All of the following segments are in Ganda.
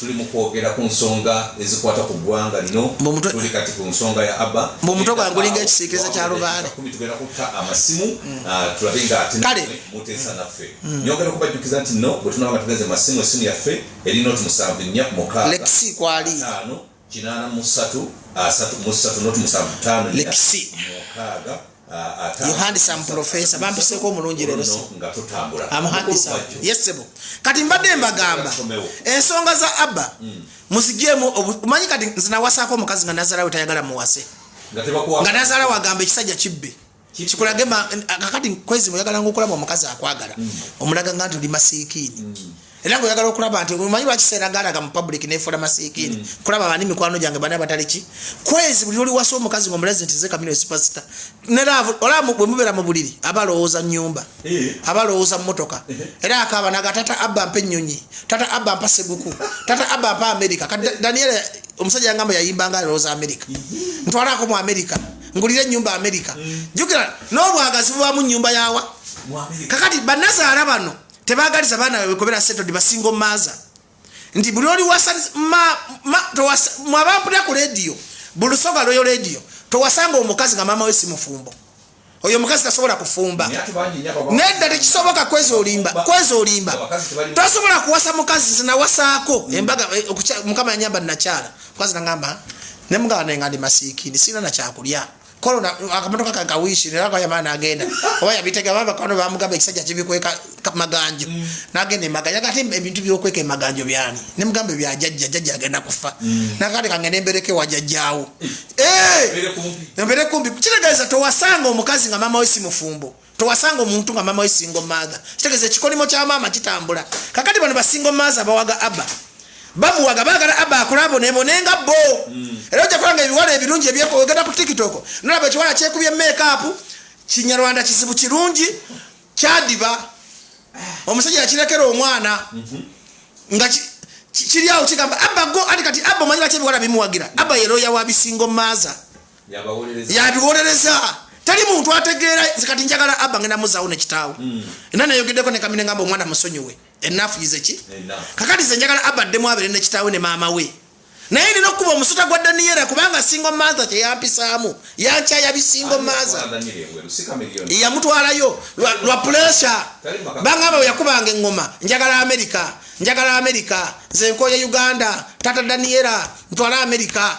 Tuli mu kwogera ku nsonga ezikwata ku ggwanga lino. Tuli kati ku nsonga ya Abba. Mbu omutwe gwange gulinga ekisiikirize kya lubaale. Tugenda kutta amasimu mm. ah, tulabe nga ate muteesa mm. naffe. Mm. Nyongera okubajjukiza nti no bwe tunaba nga tugenze masimu essimu yaffe eri noti musanvu nnya mukaaga. Lexi kwali. Ataano. kinaana mu ssatu asatu mu ssatu noti musanvu ttaano lekisi mukaaga yohandisa mupulofesa bampiseeko omulungi leero amuhandisa yesebo kati mbadde mbagamba ensonga za abba hmm. muzigyemu omanyi kati nzinawasaako omukazi nga nazalawe tayagala muwase nga nazala wagamba ekisajja kibbe kikulage kakati kwezi oyagala nga okulaba omukazi akwagala mm. omulaga nga nti oli masiikiini mm. era nga oyagala okulaba nti omanyi lwakiseera galaga mu public nefuula masiikiini mm. kulaba bani mikwano gyange bani abataliki kwezi buli oliwasa omukazi nga omulazi nti zekamino sipasita olaba bwemubeera mu buliri aba alowooza nyumba eh. aba alowooza mumotoka eh. era akaba naga tata abba mpa ennyonyi tata abba mpa seguku tata abba mpa amerika daniel omusajja yangamba yayimba nga alowooza amerika ntwalaako mu amerika ngulira enyumba amerika mm. jukira nobwagazi bubamu nyumba yawa kakati banazaala bano tebagaliza baana babwe kubera setod basingo maza nti buli oli wasamwabampulira ku lediyo bulusoga lweyo lediyo towasanga omukazi nga maama we si mufumbo oyo omukazi tasobola kufumba nedda tekisoboka kwezi olimba kwezi olimba tosobola kuwasa mukazi zinawasaako mm. embaga eh, mukama yanyamba nakyala kwazi nangamba ne mugaba ne ngandi masiki ni sina na chakulya kolo na akamotoka ka kawishi ne lako yamana agenda oba yabitega baba kono ba mugaba ekisajja kibi kweka maganjo mm. nagenda emaganja kati ebintu byo kweka emaganjo byani ne mugamba bya jajja jajja agenda kufa mm. nakati kangene mbereke wa jajjawo eh mbere kumbi kile gaza to wasanga omukazi nga mama wesi mufumbo tewasanga omuntu nga mama we single mother kitegeza ekikolimo kya maama kitambula kakati bano basingle mother bawaga aba bamuwaga bagala aba akulabo nebonenga bo mm. era ojja kulanga ebiwala ebirungi ebyekogenda ku tiktok nolaba ekiwala kyekubye makeup kinyarwanda kizibu kirungi kyadiba omusajja yakirekera omwana mhm. nga kiryawo kigamba aba go ati kati aba omanyi baki ebiwala bimuwagira aba yeroya wabisingo maza yabiwolereza teri muntu ategeera kati njagala abba ngenda muzawo nekitaawo hmm. era nayogeddeko ne kamine ngamba omwana musonyiwe enafu yizeki kakati ze njagala abba addemu abeere nekitaawe ne maama we naye nina okuba omusuta gwa daniyera kubanga singo maaza kyeyampisaamu yankyaya bisingo maaza yamutwalayo lwa puresure bangamba weyakubanga eŋŋoma njagala amerika njagala amerika nze nkoye uganda tata daniyera ntwala amerika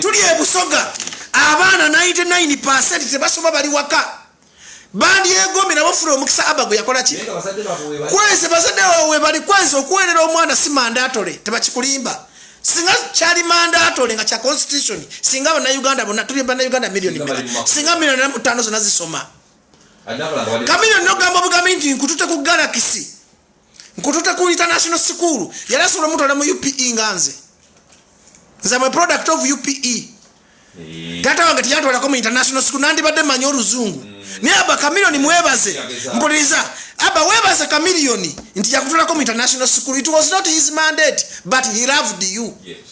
tuli ebusoga abaana 99 pasenti tebasoma bali waka bandyegombe nabo fula omukisa aba gwe yakola ki kweze bazadde wawe bali kweze okuweerera omwana si mandatole tebakikulimba singa kyali mandatole nga kya constitution singa banauganda bona tuli banauganda milioni singa milioni namutano zona zisoma kamilioni nogamba obugambi nti nkutute ku galakisi nkutute ku international school yali asobola omutwala mu upe nga nze nze am a product of upe eh. tata wange teyantwalako mu international school nandibadde manyi oluzungu mm. naye aba kamilioni mwebaze mpuliriza aba webaze kamilioni nti yakutwalako mu international school it was not his mandate but he loved you yes.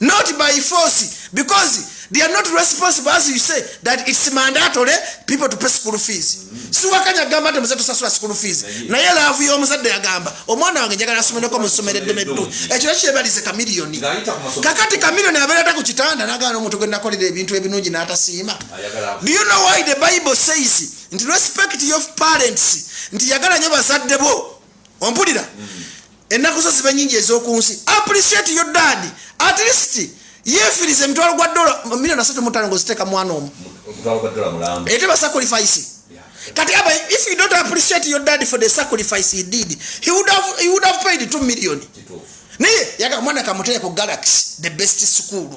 not by force because they are not responsible as you say that it's mandatory people to pay school fees mm-hmm. siwakanya gamba nti muze tusasula school fees naye laavu y'omuzadde yagamba omwana wange njagala asomereko mu ssomero eddeme ddu ekyo eh, kyebalize kamiliyoni kakati kamiliyoni abeerata ku kitanda nagana omuntu gwe nakolera ebintu ebinungi n'atasiima do you know why the bible says nti respect your parents nti yagala nyo bazadde bo ompulira mm-hmm. ennaku zo zibe nyingi ez'oku nsi appreciate your dad at least yefiriza emitwalo gwa dola milioni asatu mutano ngoziteeka mwana omu ete basacrifice kati aba if you don't appreciate your dad for the sacrifice he did he would have, he would have paid 2 million naye yaga mwana kamuteeka ku galaxy the best school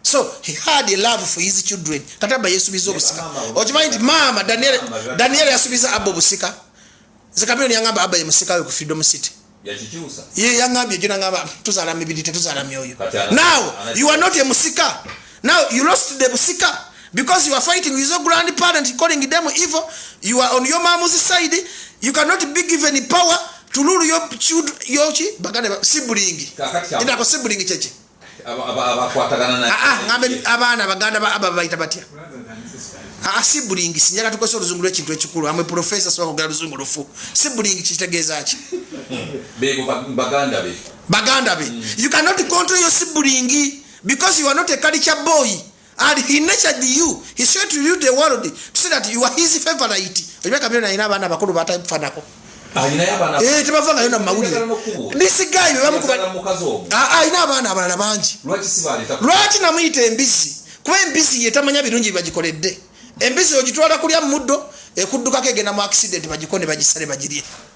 so he had a love for his children kati aba yesubiza obusika okimanyi nti maama daniel yasubiza abo obusika nze kamiyoni yangamba aba yemusikawe ku freedom city ye yangambye jo nangamba tuzala mibiri tetuzala myoyo now you are not a musika now you lost the musika because you are fighting with your grandparent calling them evil you are on your mom's side you cannot be given power to rule your children your chi bagane sibulingi ndako sibulingi cheche abaana baganda ba aba baita batya asibulingi sinyala tukosa oluzungu lwekintu ekikulu amwe profesa sibakogera luzungu lufu sibulingi kitegeeza ki baganda be you cannot control your sibulingi because you are not a culture boy and he nurtured you he showed you the world to say that you are his favorite olimeka bino nalina abaana abakulu batafanako ah, eh, tebava nayo namawulire nisigayi bebamukubalina ah, ah, abaana abalala bangi lwaki namuyita embizi kuba embizi yetamanya birungi bibagikoledde embizi ogitwala kulya muddo ekuddukako egenda mu accident bagikone bagisale bagirye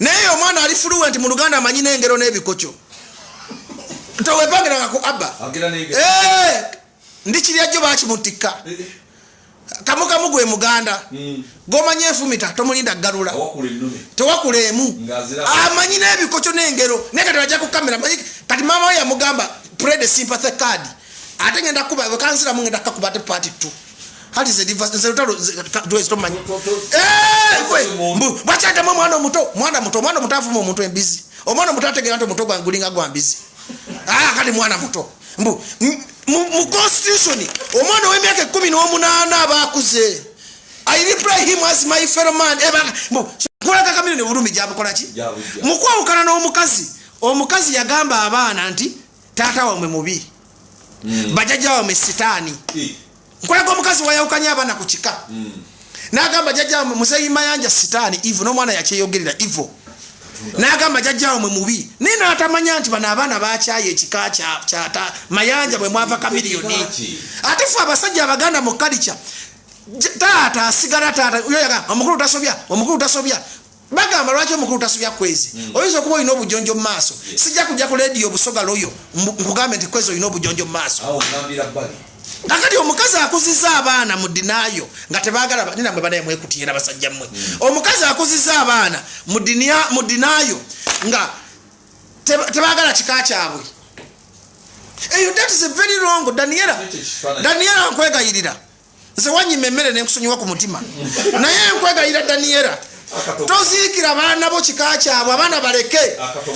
naye omwana ali fluent mu luganda amanyi n'engero n'ebikokyo tewepangiranga ku abba eh, ndi kirya jjo bakimutikka kamukamu gwe muganda hmm. gomanya enfumita tomulinda galula tewakula emu amanyi n'ebikokyo n'engero naye kati ajja ku kamera manyi kati maama we yamugamba prede sympathy card ate ngenda kuba wekanziramu ngenda kakuba ate party two hati zelutalo tuwezitomanyi bwakyatamu omwana omuto mwana muto omwana omuto afuma omuntu embizi omwana omuto ategera nti omuto gulinga gwa mbizi ah, kati mwana muto mbu mu constitution omwana ow'emyaka ekumi n'omunaana aba akuze i reply him as my fellow man kulaga kamiro ne bulumi gyamukolaki mukwawukana n'omukazi omukazi yagamba abaana nti taata wamwe mubi mm. bajajja wamwe sitaani eh. nkulaga omukazi wayawukanya abaana ku kika mm. nagamba jajja wamwe muzeyi mayanja sitaani ivo n'omwana yakyeyogerera ivo nagamba jajja wamwe mubi naye natamanya nti bano abaana bakyayo ekika kyata mayanja bwe mwava kamiliyoni ate fe abasajja abaganda mu kalica taata asigala taata yoyaga omukulu tasobya omukulu tasobya bagamba lwaki omukulu tasubya kwezi hmm. oyinza okuba olina obujonjo mu maaso sijja kujja ku lediyo obusoga loyo nkugambe nti kwezi olina obujonjo mu maaso kakati omukazi akuziza abaana mu dinayo nga tebagala nina mwe banaye mwekutiye nabasajja mmwe hmm. omukazi akuziza abaana mu dinayo nga tebagala kika kyabwe eyo that is a very wrong daniela daniela nkwegayirira nze wanyima emmere nenkusonyiwa ku mutima naye nkwegayira daniyera toziikira baana bo kika kyabwe abaana baleke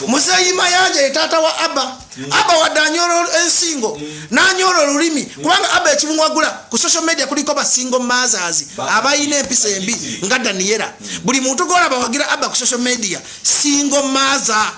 muzeeyi mayanja ye taata wa abba mm. abba wadde anyola ensingo mm. nanyola olulimi mm. kubanga abba ekimuwagula ku social media kuliko basingo mazas abalina empisa embi nga daniyera buli muntu golabawagira abba ku social media singo maza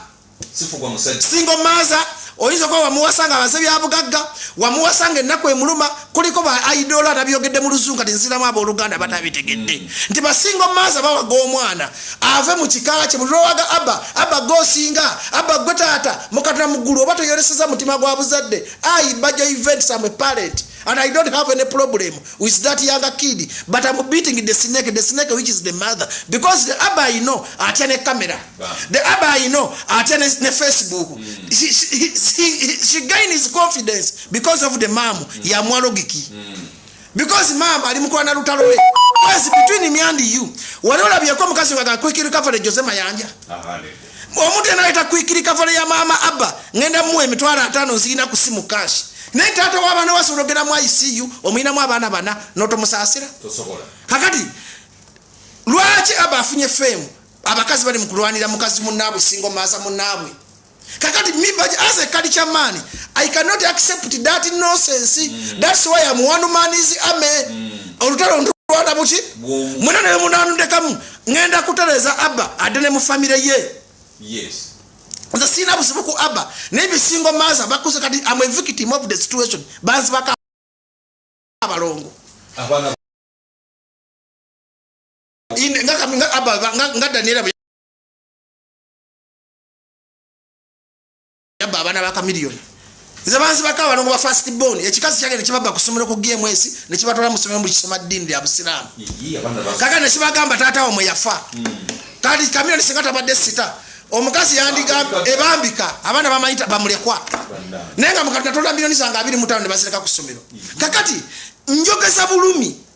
sifugwa musajja single mother oyinza okuba wamuwasa nga abaze byabugagga wamuwasa nga ennaku emuluma kuliko ba idoolo atabyogedde mu luzungu kati nziramu abooluganda batabitegedde mm. nti basinga omumaaza bawaga omwana ave mu kika kye buli lwowaga abba abba gosinga abba gwe taata mukatona mu ggulu oba toyoleseza mutima gwa buzadde ayi bajo event some parent and i don't have any problem with that younger kid but am beating the snake the snake which is the mother because the abba you know atya ne camera the aba i know ate ne, ne facebook mm. she, she, she, she gain his confidence because of the mam mm. ya mwalogiki mm. because mam ali mukola na lutalo lwe yes between me and you wali olabyeko omukazi waga kwikiri kafale jose mayanja omuntu yena ayita kwikiri kafale ya mama abba ngenda muwa emitwalo ataano nzirina ku simu kashi naye taata w'abaana wasobola ogenda mu icu omuyinamu abaana bana notomusaasira kakati lwaki abba afunye feemu abakazi bali mukulwanira mukazi munaabwe singo maaza munaabwe kakati mimba as a culture man i cannot accept that nonsense mm. that's why am one man is ame mm. olutalo ntulwana buki mwena nele munanundekamu ngenda kutereza abba ade ne mufamire ye yes nze siina buzibu ku abba naye bisingo maaza bakuze kati am a victim of the situation banzibaka abalongo nga daniela yabba abaana ba kamiliyoni nze banzi baka abalongo ba fast bon ekikazi kyage nekibabba kusomero ku gms nekibatwala musomero mukisoma ddini lya busiraamu kaka nekibagamba taata wamwe yafa hmm. kati kamiliyoni singa tabadde sita omukazi yandigamba ebambika abaana bamanyita bamulekwa naye nga mukati natolda miliyoni zange abiri mutano nebazireka ku ssomero kakati njogeza bulumi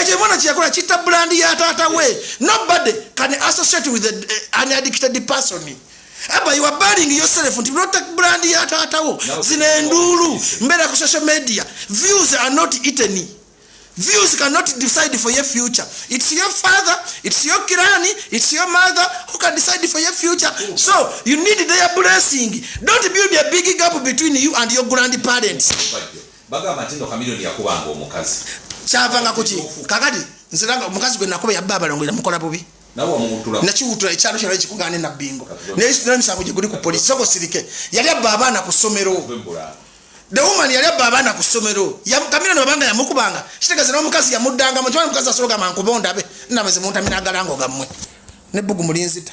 ekyo ebona kyeyakola kitta brand ya taata we nobody can associate with eh, an addicted person aba you are burning yourself nti nota brand ya taata wo zino enduulu mbeera ku social media views are not eaten views cannot decide for your future it's your father it's your kirani it's your mother who can decide for your future so you need their blessing don't build a big gap between you and your grandparents Bagamba nti no Chameleone yakubanga omukazi. Kyavanga ku ki? Kakati nze langa omukazi gwe nakuba yabba abalongo era mukola bubi. Nawe omuwutula. Nakiwutula ekyalo kyalo ekikugaane na bingo. Naye situla misango gye guli ku poliisi soko sirike. Yali abba abaana ku ssomero. The woman yali abba abaana ku ssomero. Kamira ne babanga yamukubanga. Kitegeeza n'omukazi yamuddanga mu kiwa omukazi asobola gamba nkuba ondabe. Nnama ze muntamira agalango gammwe. N'ebbugu mulinzita.